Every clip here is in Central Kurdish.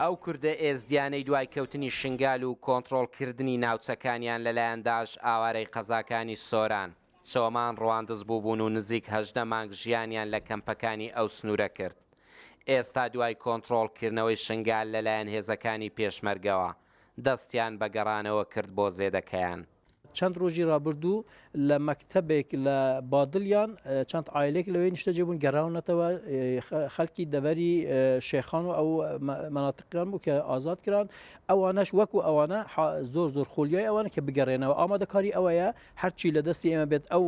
ئەو کوردە ئێزدیانەی دوای کەوتنی شنگال و کۆنتڕۆڵ کردنی ناوچەکانیان لە لایەن داعش ئاوارەی قەزاکانی سۆران، چۆمان، ڕواندز بووبوون و نزیک هەژدە مانگ ژیانیان لە کەمپەکانی ئەو سنوورە کرد. ئێستا دوای کۆنتڕۆڵ کردنەوەی شنگال لە لایەن هێزەکانی پێشمەرگەوە، دەستیان بە گەڕانەوە کرد بۆ زێدەکەیان. چەند ڕۆژی ڕابردوو لە مەکتەبێک لە بادلیان چەند ئایلێک لەوەی نیشتەجێ بوون گەڕاونەتەوە خەڵکی دەبەری شێخان و ئەو مەناتقیان بوو کە ئازاد کران ئەوانەش وەکو ئەوانە زۆر زۆر خۆلیای ئەوانە کە بگەڕێنەوە ئامادەکاری ئەوەیە هەرچی لە دەستی ئێمە بێت ئەو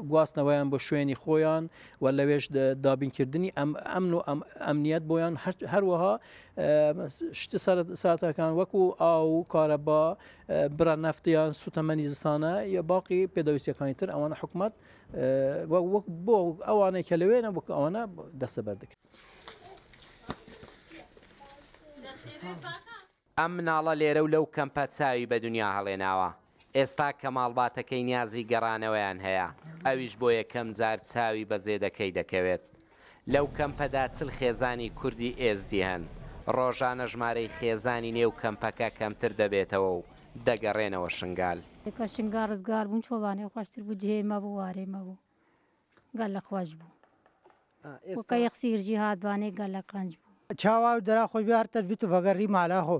گواستنەوەیان بۆ شوێنی خۆیان و لەوێش دابینکردنی ئەم ئەمن و ئەم ئەمنیەت بۆیان هەروەها شتە ساتەکان وەکو ئاو کارەبا برا نەفت یان سوتەمەنی زستانە یا باقی پێداویستەکانی تر ئەوانە حکومت وەک بۆ ئەوانەی کە لەوێنە وەک ئەوانە دەستە بەردەکە. ئەم مناڵە لێرە و لەو کەمپە چاوی بە دنیا هەڵێناوە، ئێستا کە ماڵباتەکەی نیازی گەڕانەوەیان هەیە، ئەویش بۆ یەکەم جار چاوی بە زێدەکەی دەکەوێت، لەو کەمپەدا چل خێزانی کوردی ئێزدی هەن، ڕۆژانە ژمارەی خێزانی نێو کەمپەکە کەمتر دەبێتەوە و دەگەڕێنەوە شنگال. کە شنگال ڕزگار بوون چۆڵانێ خۆشتر بوو، جێی مەبوو، وارەی مەبوو، گەلەک خۆش بوو. وەکە یەخ سیرجی هات بانێ گەلەک قنج بوو. چاوا و درا خۆش بێ هەر تەرفی تفەگە ری مالا هۆ.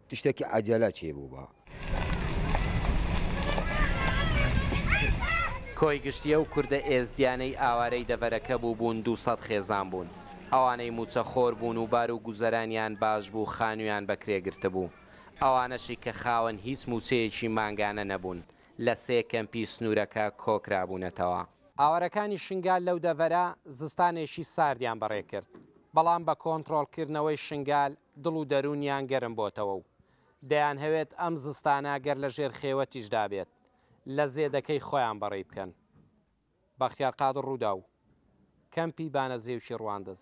تشتەکی عەجەلە چێ بوو با. کۆی گشتی ئەو کوردە ئێزدیانەی ئاوارەی دەڤەرەکە بووبوون دوو سەد خێزان بوون. ئەوانەی مووچە خۆر بوون و بار و گوزەرانیان باش بوو خانوویان بە کرێ گرتبوو. ئەوانەشی کە خاوەن هیچ مووچەیەکی مانگانە نەبوون، لە سێ کەمپی سنوورەکە کۆکرابوونەتەوە. ئاوارەکانی شنگال لەو دەڤەرە زستانێکی ساردیان بەڕێ کرد، بەڵام بە کۆنتڕۆڵکردنەوەی شنگال دڵ و دەروونیان گەرم بۆتەوە و دەیانهەوێت ئەم زستانە گەر لە ژێر خێوەتیشدا بێت لە زێدەکەی خۆیان بەڕێی بکەن. بەختیار قادر رووداو، کەمپی بانەزێوکی رواندز.